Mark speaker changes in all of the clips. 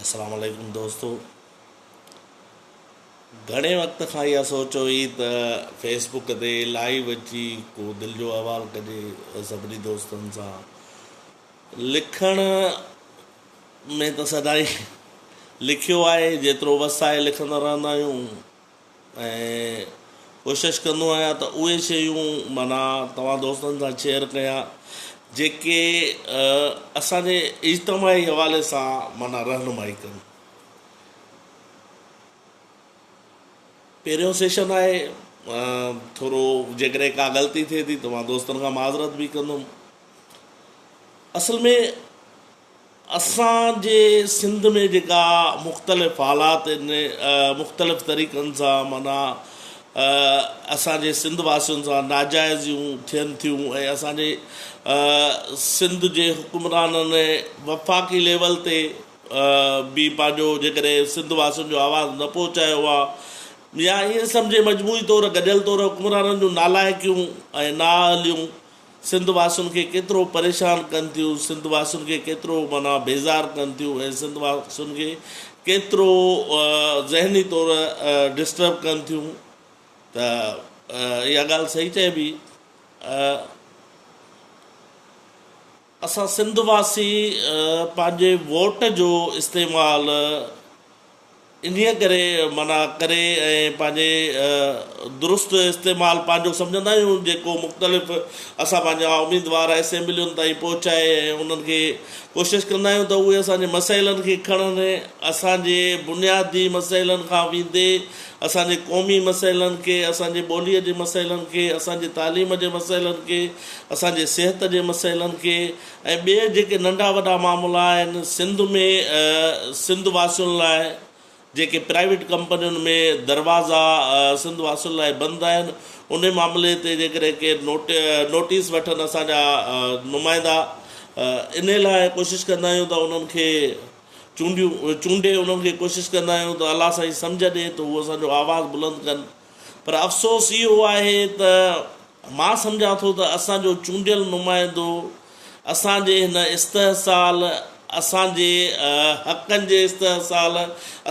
Speaker 1: السلام عليڪم دوستو گهڻي وقت کان اها سوچ هئي ته فيس بڪ تي لائيو اچي ڪو دل جو احوال ڪجي سڀني دوستن سان لکڻ ۾ ته سدائين لکيو آهي جيترو وس آهي لکندا رهندا آهيون ۽ ڪوشش ڪندو آهيان ته اهي شيون معنيٰ توهان دوستن سان شيئر ڪيان جيڪي اسان جي اجتماعي حوالي سان معنيٰ رهنمائي ڪن. پهريون سيشن آهي ٿورو جيڪڏهن ڪا غلطي ٿئي ٿي ته مان دوستن کان معذرت به ڪندم. اصل ۾ اسان جي سنڌ ۾ جيڪا مختلف حالات ان مختلف طريقن سان معنيٰ اسان جي سنڌ واسين سان ناجائزيون ٿين ٿيون ۽ اسان جي سنڌ جي حڪمرانن وفاقي ليول تي به پنهنجو جيڪڏهن سنڌ واسين جو آواز نه پهچايو آ يا ائين سمجهي مجموعي طور گڏيل طور حڪمرانن جون نالائقيون ۽ نااهليون سنڌ واسين کي ڪيترو پريشان ڪن ٿيون، سنڌ واسين کي ڪيترو معنيٰ بيزار ڪن ٿيون ۽ سنڌ واسين کي ڪيترو ذهني طور ڊسٽرب ڪن ٿيون ته اها ڳالهه صحيح چئبي اسان سنڌ واسي پنهنجي ووٽ جو استعمال انهيء ڪري منع ڪري ۽ پنهنجي درست استعمال پنهنجو سمجهندا آهيون جيڪو مختلف اسان پنهنجا اميدوار اسيمبلين تائين پهچائي ۽ انهن کي ڪوشش ڪندا آهيون ته اهي اسان جي مسئلن کي کڻن ۽ اسان جي بنيادي مسئلن کان ويندي اسان جي قومي مسئلن کي اسان جي ٻولي جي مسئلن کي اسان جي تعليم جي مسئلن کي اسان جي صحت جي مسئلن کي ۽ ٻي جيڪي ننڍا وڏا معاملا آهن سنڌ ۾ سنڌ واسين لاء جيڪي پرائيويٽ ڪمپنين ۾ دروازا سنڌ واسين لاء بند آهن انهي معاملي تي جيڪڏهن ڪير نوٽيس وٺن اسان جا نمائندا انهي لاء ڪوشش ڪندا آهيون ته انهن کي چونڊيون چونڊي انهن کي ڪوشش ڪندا آهيون ته الله سائين سمجهه ڏي ته هو اسان جو آواز بلند ڪن. پر افسوس اهو آهي ته مان سمجهان ٿو ته اسان جو چونڊيل نمائندو اسان جي هن استحصال، اسان جي حقن جي استحصال،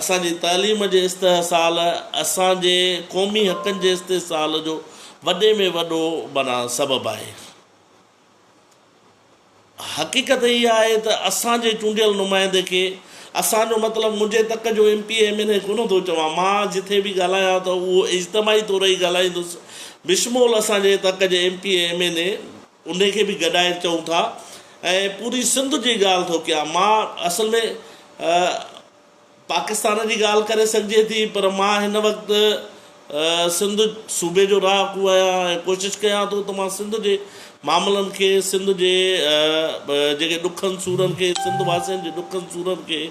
Speaker 1: اسان جي تعليم جي استحصال، اسان جي قومي حقن جي استحصال جو وڏي ۾ وڏو معنيٰ سبب آهي. حقيقت اها آهي ته اسان جي چونڊيل نمائندي کي اسان جو مطلب منهنجي تڪ جو M P A M N A ڪونه ٿو چوان مان جٿي به ڳالهايان ته اهو اجتماعي طور ئي ڳالهائيندس بشمول اسان جي تڪ جي M P A M N A انهي کي به گڏائي چئون ٿا ۽ پوري سنڌ جي ڳالهه ٿو ڪيان مان اصل ۾ پاڪستان جي ڳالهه ڪري سگهجي ٿي پر مان هن وقت سنڌ صوبي جو رهاڪو آهيان ۽ ڪوشش ڪيان ٿو ته مان سنڌ جي معاملن کي سنڌ جي جيڪي ڏکن سورن کي سنڌ واسين جي ڏکن سورن کي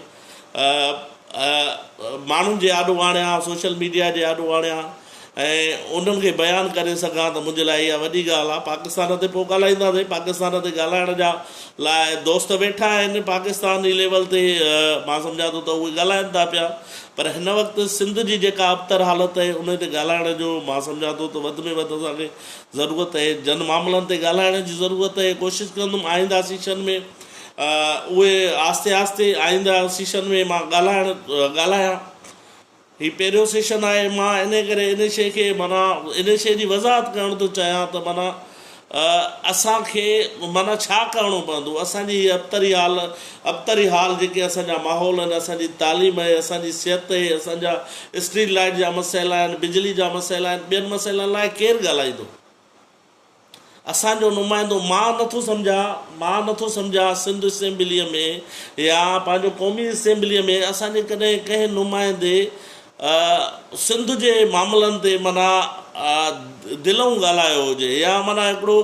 Speaker 1: ماڻهن جي آڏو آڻيان سوشل ميڊيا جي آڏو آڻيان ۽ انهن کي بيان ڪري سگهان ته منهنجي لاء اها وڏي ڳالهه آهي پاڪستان تي پوء ڳالهائينداسين پاڪستان تي ڳالهائڻ جا لاء دوست ويٺا آهن پاڪستاني ليول تي مان سمجهان ٿو ته اهي ڳالهائن ٿا پيا پر هن وقت سنڌ جي جيڪا ابتر حالت آهي انهي تي ڳالهائڻ جو مان سمجهان ٿو ته وڌ ۾ وڌ اسان کي ضرورت آهي جن معاملن تي ڳالهائڻ جي ضرورت آهي ڪوشش ڪندم آئنده سيشن ۾ اهي آهستي آهستي آئنده سيشن ۾ مان ڳالهائڻ ڳالهايان هي پهريون سيشن آهي مان انهي ڪري انهي شيء کي معنيٰ انهي شيء جي وضاحت ڪرڻ ٿو چاهيان ته معنيٰ اسان کي معنيٰ ڇا ڪرڻو پوندو اسان جي هي ابتري حال ابتري حال جيڪي اسان جا ماحول آهن اسان جي تعليم اهي اسان جي صحت اهي اسان جا اسٽريٽ لائيٽ جا مسئلا آهن بجلي جا مسئلا آهن ٻين مسئلن لاء ڪير ڳالهائيندو. اسان جو نمائندو مان نٿو سمجهان مان نٿو سمجهان سنڌ اسيمبليء ۾ يا پنهنجو قومي اسيمبليء ۾ اسان جي ڪڏهن ڪنهن نمائندي سنڌ جي معاملن تي معنيٰ دلئون ڳالهايو هجي يا معنيٰ هڪڙو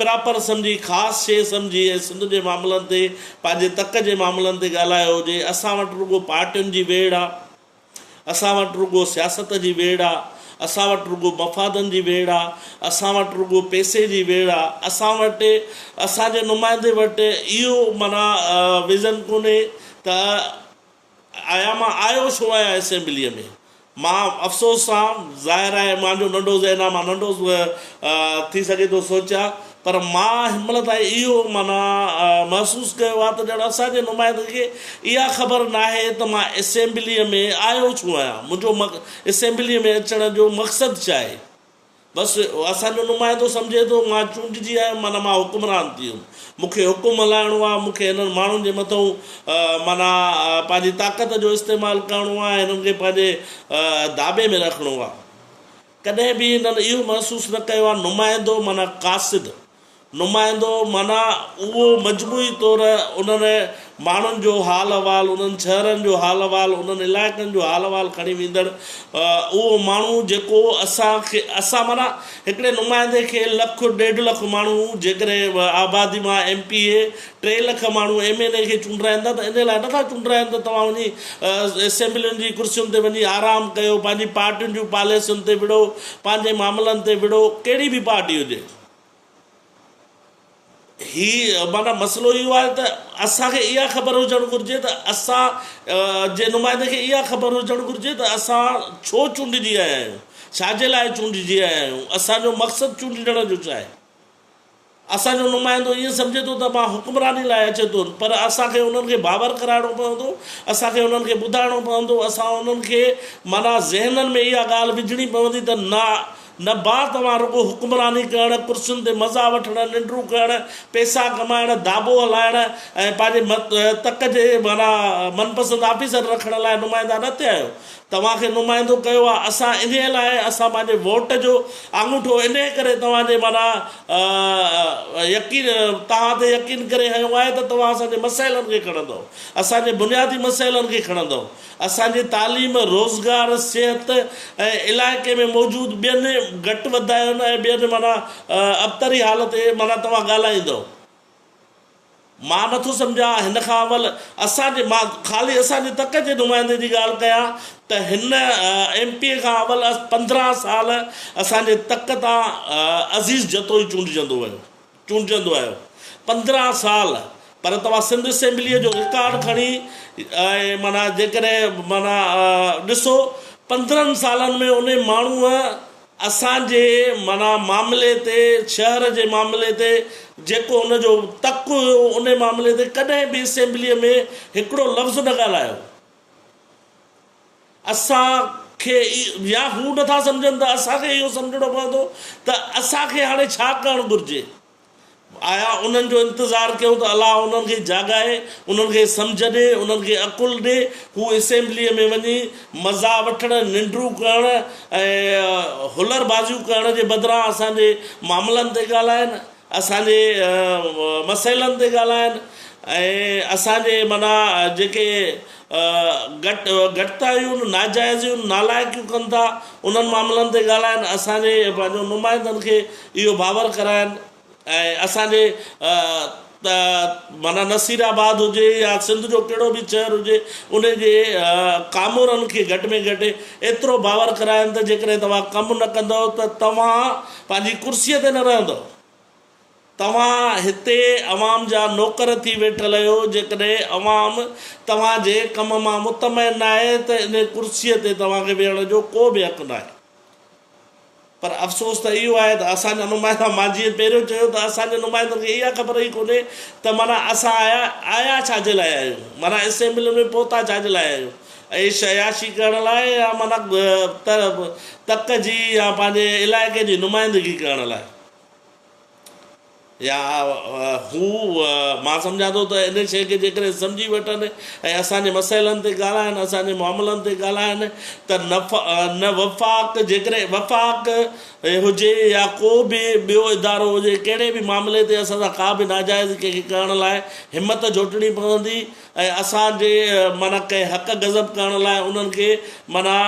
Speaker 1: پراپر سمجهي خاص شيء سمجهي ۽ سنڌ جي معاملن تي پنهنجي تڪ جي معاملن تي ڳالهايو هجي اسان وٽ رڳو پارٽين جي ويڙهه آ. اسان وٽ رڳو سياست جي ويڙهه آ، اسان وٽ رڳو مفادن جي ويڙهه آ، اسان وٽ رڳو پئسي جي ويڙهه آ، اسان وٽ اسان جي نمائندي وٽ اهو معنيٰ ويزن ڪونهي ته آيا مان آيو ڇو آهيان اسيمبليء ۾؟ مان افسوس سان ظاهر آهي مانجو ننڍو ذهن آ مان ننڍو ٿي سگهي ٿو سوچيان پر مان هن مهل تائين اهو معنيٰ محسوس ڪيو آهي ته ڄڻ اسان جي نمائندن کي اها خبر ناهي ته مان اسيمبليء ۾ آيو ڇو آهيان، منهنجو اسيمبليء ۾ اچڻ جو مقصد ڇا آهي. بس اسان جو نمائندو سمجهي ٿو مان چونڊجي آيم معنيٰ مان حڪمران ٿي ويم، مون کي حڪم هلائڻو آهي، مون کي هنن ماڻهن جي مٿئون معنيٰ پنهنجي طاقت جو استعمال ڪرڻو آهي، هنن کي پنهنجي داٻي ۾ رکڻو آهي. ڪڏهن به هنن اهو محسوس نه ڪيو آهي نمائندو معنيٰ قاصد نمائندو معنيٰ اهو مجموعي طور انهن ماڻهن جو حال احوال انهن شهرن جو حال احوال انهن علائقن جو حال احوال کڻي ويندڙ اهو ماڻهو جيڪو اسان کي اسان معنيٰ هڪڙي نمائندي کي لک ڏيڍ لک ماڻهو جيڪڏهن آبادي مان ايم پي اي ٽي لک ماڻهو ايم اين اي کي چونڊرائين ٿا ته ان لاء نٿا چونڊرائين ته توهان وڃي اسيمبلين جي ڪرسين تي وڃي آرام ڪيو پنهنجي پارٽين جون پاليسين تي وڙهو پنهنجي معاملن تي وڙهو ڪهڙي به پارٽي هجي هي معنيٰ مسئلو اهو آهي ته اسان کي اها خبر هجڻ گهرجي ته اسان جي نمائندي کي اها خبر هجڻ گهرجي ته اسان ڇو چونڊجي آيا آهيون ڇا جي لاء چونڊجي آيا آهيون اسان جو مقصد چونڊجڻ جو ڇا آهي اسان جو نمائندو ائين سمجهي ٿو ته مان حڪمراني لاء اچي ٿو پر اسان کي انهن کي باور ڪرائڻو پوندو، اسان کي انهن کي ٻڌائڻو پوندو، اسان انهن کي معنيٰ ذهنن ۾ اها ڳالهه وجهڻي پوندي ته نه نه ڀاء توهان رڳو حڪمراني ڪرڻ، ڪرسين تي مزا وٺڻ، ننڊون ڪرڻ، پئسا ڪمائڻ، داٻو هلائڻ ۽ پنهنجي تڪ جي معنيٰ من پسند آفيسر رکڻ لاء نمائندا نه ٿيا آهيو توهان کي نمائندو ڪيو آ اسان انهي لاء اسان پنهنجي ووٽ جو آڱوٺو انهي ڪري توهان جي معنيٰ يقين توهان تي يقين ڪري هنيو آهي ته توهان اسان جي مسئلن کي کڻندؤ اسان جي بنيادي مسئلن کي کڻندؤ اسان جي تعليم روزگار صحت ۽ علائقي ۾ موجود ٻين گهٽ وڌاين ۽ ٻين معنيٰ ابتري حال تي معنيٰ توهان ڳالهائيندؤ. مان نٿو سمجهان هن کان اول اسان جي مان خالي اسان جي تڪ جي نمائندي جي ڳالهه ڪيان ته هن ايم پي اي کان اول پندرهن سال اسان جي تڪ تان عزيز جتوئي چونڊجندو ويو چونڊجندو آيو پندرهن سال پر توهان سنڌ اسيمبليء جو رڪارڊ کڻي معنيٰ جيڪڏهن معنيٰ ڏسو پندرهن سالن ۾ انهي ماڻهوء اسان جي معنيٰ معاملي تي، شهر جي معاملي تي جيڪو هن جو تڪ هيو ان معاملي تي ڪڏهن به اسيمبليء ۾ هڪڙو لفظ نه ڳالهايو. اسان کي يا هو نٿا سمجهن ته اسان کي اهو سمجهڻو پوندو ته اسان کي هاڻي ڇا ڪرڻ گهرجي. آيا انهن جو انتظار ڪيون ته الله انهن کي جاڳائي، انهن کي سمجهه ڏي، انهن کي عقل ڏي، هو اسيمبليء ۾ وڃي مزا وٺڻ، ننڊون ڪرڻ ۽ هلر بازيون ڪرڻ جي بدران اسان جي معاملن تي ڳالهائين، اسان جي مسئلن تي ڳالهائين ۽ اسان جي معنيٰ جيڪي گهٽ گهٽتايون، ناجائزيون، نالائقيون ڪن ٿا انهن معاملن تي ڳالهائن اسان جي پنهنجو نمائندن کي اهو باور ڪرائن ۽ اسان جي ته معنيٰ نصير آباد هجي يا سنڌ جو ڪهڙو به شهر هجي ان جي ڪامورن کي گهٽ ۾ گهٽ ايترو باور ڪرائن ته جيڪڏهن توهان ڪم نه ڪندؤ ته توهان پنهنجي ڪرسي تي نه رهندؤ توهان هتي عوام جا نوڪر ٿي ويٺل اهيو، جيڪڏهن عوام توهان جي ڪم مان مطمئن ناهي ته ان ڪرسي تي توهان کي ويهڻ جو ڪو به حق ناهي. پر افسوس ته اهو آهي ته اسان جا نمائندا مان جيئن پهريون چيو ته اسان جي نمائندن کي اها خبر ئي ڪونهي ته معنيٰ اسان آيا آيا ڇا جي لاء آهيون، معنيٰ اسيمبلين ۾ پهتا ڇا جي لاء آهيون، عيش عياشي ڪرڻ لاء يا معنيٰ تڪ جي يا پنهنجي علائقي جي نمائندگي ڪرڻ لاء. يا هو، مان سمجهان ٿو ته ان شيء کي جيڪڏهن سمجهي وٺن ۽ اسان جي مسئلن تي ڳالهائن، اسان جي معاملن تي ڳالهائن ته نه وفاق، جيڪڏهن وفاق هجي يا ڪو به ٻيو ادارو هجي، ڪهڙي به معاملي تي اسان سان ڪا به ناجائزي ڪنهن کي ڪرڻ لاء همت جهوٽڻي پوندي ۽ اسان جي معنيٰ ڪنهن حق غضب ڪرڻ لاء انهن کي معنيٰ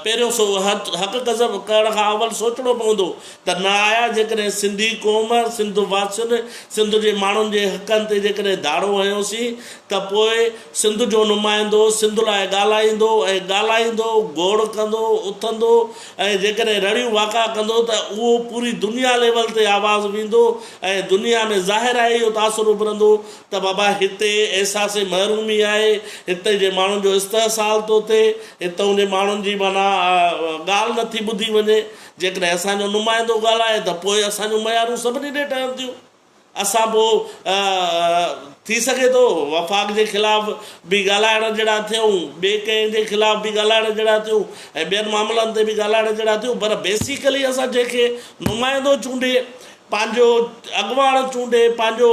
Speaker 1: پهريون سو حق غضب ڪرڻ کان اول سوچڻو پوندو ته نه آيا جيڪڏهن سنڌي قوم، سنڌ واسين، سنڌ جي ماڻهن جي حقن تي جيڪڏهن ڌاڙو هنيوسين ته پوء سنڌ جو نمائندو سنڌ لاء ڳالهائيندو ۽ ڳالهائيندو، گوڙ ڪندو، اٿندو ۽ جيڪڏهن رڙيون واڪا ڪندو ته اهو پوري دنيا ليول تي آواز ويندو ۽ دنيا ۾ ظاهر آهي اهو تاثر اڀرندو ته بابا هتي احساس محرومي آهي، هتي جي ماڻهن جو استحصال ٿو ٿئي، هتئون جي ماڻهن جي معنيٰ ڳالهه نه ٿي ٻڌي وڃي، جيڪڏهن اسان جو نمائندو ڳالهائي ته پوء اسان جون ميارون سڀني ڏي ٺهن ٿيون، اسان پوء ٿي سگهي ٿو وفاق جي خلاف به ڳالهائڻ جهڙا ٿيون، ٻئي ڪنهن جي خلاف به ڳالهائڻ جهڙا ٿيون ۽ ٻين معاملن تي به ڳالهائڻ جهڙا ٿيون پر بيسيڪلي اسان جنهن کي نمائندو چونڊي پنهنجو اڳواڻ چونڊي، پنهنجو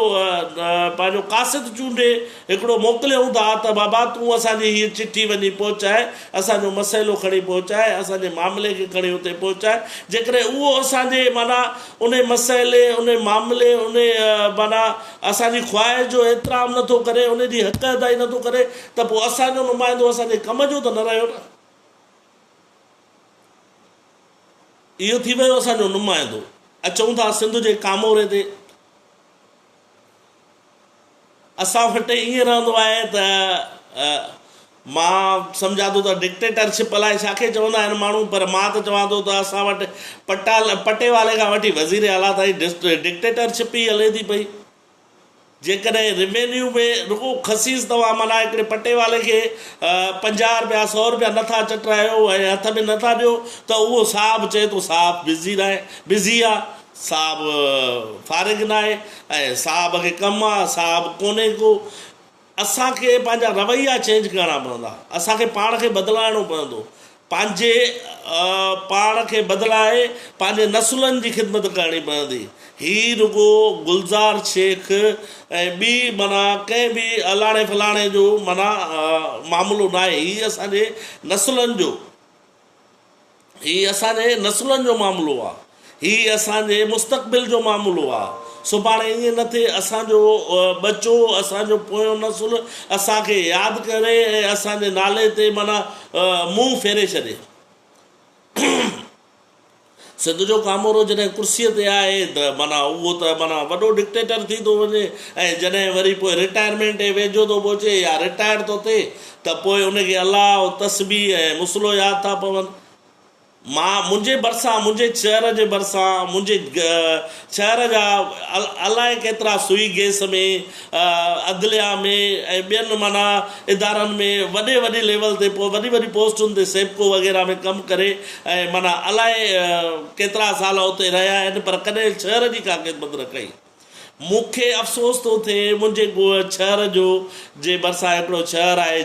Speaker 1: پنهنجو قاصد چونڊي هڪڙو موڪليون ٿا ته بابا تون اسان جي هيء چٺي وڃي پهچاء، اسان جو مسئلو کڻي پهچاء، اسان جي معاملي کي کڻي اتي پهچاء، جيڪڏهن اهو اسان جي معنيٰ انهي مسئلي، انهي معاملي، انهي معنيٰ اسان جي خواهش جو احترام نه ٿو ڪري، انهي جي حق ادائي نه ٿو ڪري ته پوء اسان جو نمائندو اسان جي ڪم جو ته نه رهيو نه. اهو ٿي ويو اسان جو نمائندو. اچون ٿا سنڌ جي ڪاموري تي. اسان وٽ ائين رهندو آهي ته مان سمجهان ٿو ته ڊڪٽيٽرشپ الائي ڇا کي چوندا آهن ماڻهو پر مان ته چوان ٿو ته اسان وٽ پٽا پٽيوالي کان وٺي وزير اعليٰ تائين ڊڪٽيٽرشپ ئي هلي ٿي پئي. جيڪڏهن روينيو ۾ رڳو خسيس توهان معنيٰ هڪڙي پٽي والي کي پنجاهه رپيا سؤ رپيا نه ٿا چٽرايو ۽ هٿ ۾ نه ٿا ڏيو ته اهو صاحب چئي ٿو صاحب بزي ناهي بزي آ صاحب فارغ ناهي ۽ صاحب کي ڪم آ صاحب ڪونهي ڪو اسان کي پنهنجا رويا چينج ڪرڻا پوندا اسان کي پاڻ کي بدلائڻو پوندو پنهنجي پاڻ کي بدلائي پنهنجي نسلن جي خدمت ڪرڻي پوندي هي رڳو گلزار شيخ ۽ ٻي معنيٰ ڪنهن به الاڻي ڦلاڻي جو معنيٰ معاملو ناهي هي اسان جي نسلن جو هي اسان جي نسلن جو معاملو آ. هي اسان جي مستقبل جو معاملو آ. سڀاڻي ائين نه ٿئي اسان جو ٻچو، اسان جو پويون نسل اسان کي ياد ڪري ۽ اسان جي نالي تي معنيٰ منهن ڦيري ڇڏي. سنڌ جو ڪامورو جڏهن ڪرسيء تي آهي ته معنيٰ اهو ته معنيٰ وڏو ڊڪٽيٽر ٿي ٿو وڃي ۽ جڏهن وري پوء رٽائرمينٽ جي ويجهو ٿو پهچي يا رٽائر ٿو ٿئي ته پوء ان کي الله و تسبيح ۽ مصلو ياد ٿا پون. مان، منهنجي ڀرسان، منهنجي چيئر جي ڀرسان، منهنجي شهر جا الائي ڪيترا سوئي گيس ۾ عدليا ۾ ۽ ٻين معنيٰ ادارن ۾ وڏي وڏي ليول تي وڏي وڏي پوسٽن تي سيپڪو وغيره ۾ ڪم ڪري ۽ معنيٰ الائي ڪيترا سال اتي رهيا آهن پر ڪڏهن شهر جي ڪا خدمت نه ڪئي مون کي افسوس ٿو ٿئي منهنجي ڳوء شهر جو جي ڀرسان هڪڙو شهر آهي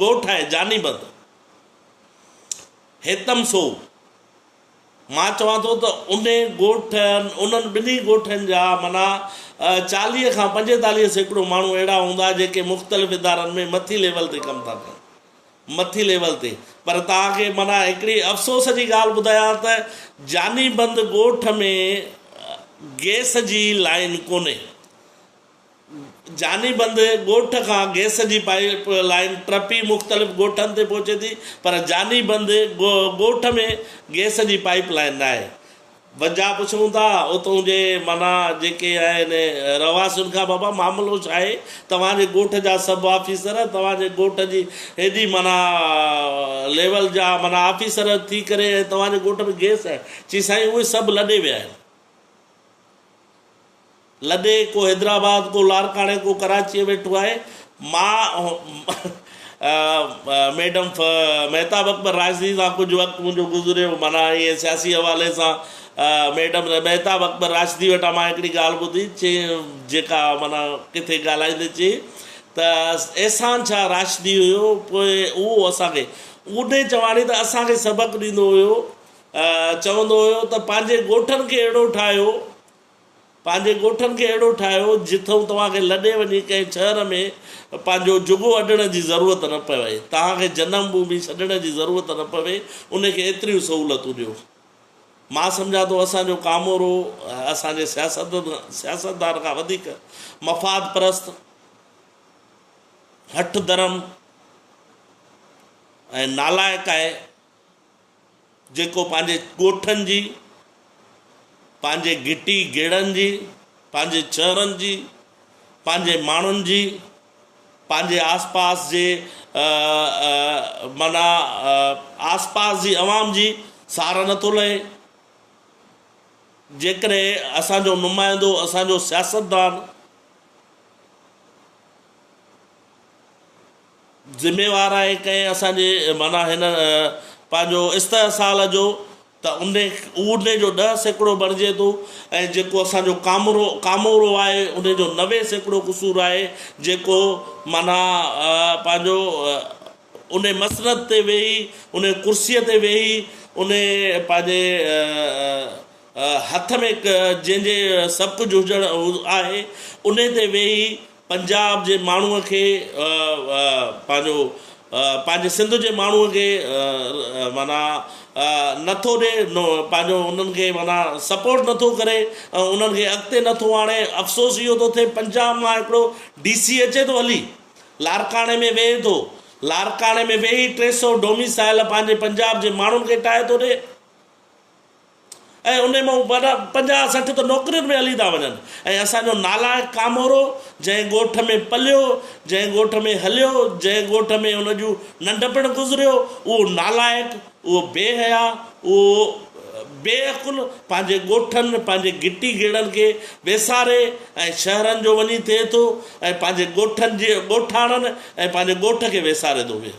Speaker 1: ڳوٺ آهي جاني بند هيتم سو. مان چوان ٿو ته انهي ڳوٺ انهن ٻنهي ڳوٺن جا معنيٰ چاليهه کان پنجيتاليهه سيڪڙو ماڻهو اهڙا هوندا جيڪي مختلف ادارن ۾ مٿي ليول تي ڪم ٿا ڪن مٿي ليول تي پر توهان کي معنيٰ هڪڙي افسوس جي ڳالهه ٻڌايان ته جاني بند ڳوٺ ۾ گئس جي لائين ڪونهي جاني بند ڳوٺ کان گئس جي پائيپ لائين ٽپي مختلف ڳوٺن تي پهچي ٿي پر جاني بند ڳوٺ ۾ گئس جي پائيپ لائين ناهي. وجهه پڇون ٿا اتون جي معنيٰ جيڪي آهن رهواسين کان بابا معاملو ڇا آهي؟ توهان جي ڳوٺ جا سڀ آفيسر توهان جي ڳوٺ جي هيڏي معنيٰ ليول جا معنيٰ آفيسر ٿي ڪري ۽ توهان جي ڳوٺ ۾ گئس آهي؟ چي سائين اهي سڀ لڏي ويا آهن. لڏي ڪو حيدرآباد ڪو لارڪاڻي ڪو ڪراچيء ويٺو آهي ماء ميڊم مهتاب اڪبر راشدي سان ڪجهه وقت منهنجو گذريو معنيٰ ائين سياسي حوالي سان ميڊم مهتاب اڪبر راشدي وٽان مان هڪڙي ڳالهه ٻڌي چي جيڪا معنيٰ ڪٿي ڳالهائيندي چي ته احسان شاهه راشدي هيو پوء اهو اسان کي اونهي چواڻي ته اسان کي سبق ڏيندو هيو چوندو هيو ته پنهنجي ڳوٺن کي اهڙو ٺاهيو پنهنجي ڳوٺن کي اهڙو ٺاهيو جتئون توهان کي لڏي وڃي ڪنهن شهر ۾ پنهنجو جهڳو اڏڻ جي ضرورت نه پوي، توهان کي جنم ڀومي ڇڏڻ جي ضرورت نه پوي، ان کي ايتريون سهولتون ڏيو. مان سمجهان ٿو اسان جو ڪامورو اسان جي سياستدان کان وڌيڪ مفاد پرست، هٺ درم ۽ نالائق آهي. جيڪو پنهنجي ڳوٺن جي، پنهنجي گهٽي گهڙن جي، پنهنجي شهرن جي، پنهنجي ماڻهن جي، پنهنجي آس پاس جي معنيٰ آس پاس جي عوام جي سار نه ٿو لهي. جيڪڏهن اسان جو نمائندو، اسان جو سياستدان، ذميوار آهي ڪنهن اسان جي معنيٰ هن پنهنجو استحصال جو ته ان ان جو ڏهه سيڪڙو بڻجي ٿو ۽ جيڪو اسان جو ڪامورو ڪامورو آهي ان جو نوي سيڪڙو قصور آهي جيڪو معنيٰ پنهنجو ان مسند تي ويهي ان ڪرسيء تي ويهي ان پنهنجي هٿ ۾ جنهن جي سڀ ڪجهه هجڻ آهي انهي تي ويهي پنجاب جي ماڻهوء کي پنهنجو پنهنجي سنڌ جي ماڻهوء کي معنيٰ نٿو ڏي پنهنجو انهن کي معنيٰ سپورٽ نٿو ڪري ۽ انهن کي اڳتي نٿو آڻي افسوس اهو ٿو ٿئي پنجاب مان هڪڙو ڊي سي اچي ٿو هلي لاڙڪاڻي ۾ ويهي ٿو لاڙڪاڻي ۾ ويهي ٽي سئو ڊوميسائيل پنهنجي پنجاب جي ماڻهن کي ٺاهي ٿو ڏي ۽ انهي مان وڏا پنجاهه سٺ ته نوڪرين ۾ هلي ٿا وڃن ۽ اسان جو نالائق ڪامورو جنهن ڳوٺ ۾ پليو، جنهن ڳوٺ ۾ هليو، جنهن ڳوٺ ۾ ان جون ننڍپڻ گذريو، اهو نالائق، اهو بي حيا، اهو بي عقل پنهنجي ڳوٺن، پنهنجي گهٽي گهيڙن کي ويساري ۽ شهرن جو وڃي ٿئي ٿو ۽ پنهنجي ڳوٺن جي ڳوٺاڻن ۽ پنهنجي ڳوٺ کي ويساري ٿو ويهي.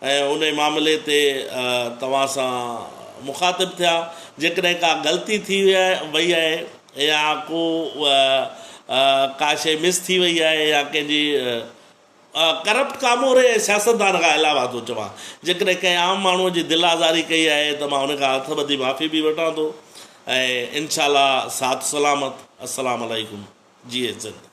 Speaker 1: ۽ انهي معاملي تي توهان سان مخاطب ٿيا جيڪڏهن ڪا غلطي ٿي وئي آهي يا ڪو ڪا شيء مس ٿي وئي آهي يا ڪنهن جي ڪرپٽ ڪاموري ۽ سياستدان کان علاوه ٿو چوان جيڪڏهن ڪنهن عام ماڻهو جي دل آزاري ڪئي آهي ته مان انهي کان هٿ ٻڌي معافي به وٺان ٿو ۽ انشاء الله ساٿ سلامت السلام عليڪم جيئي سنڌ.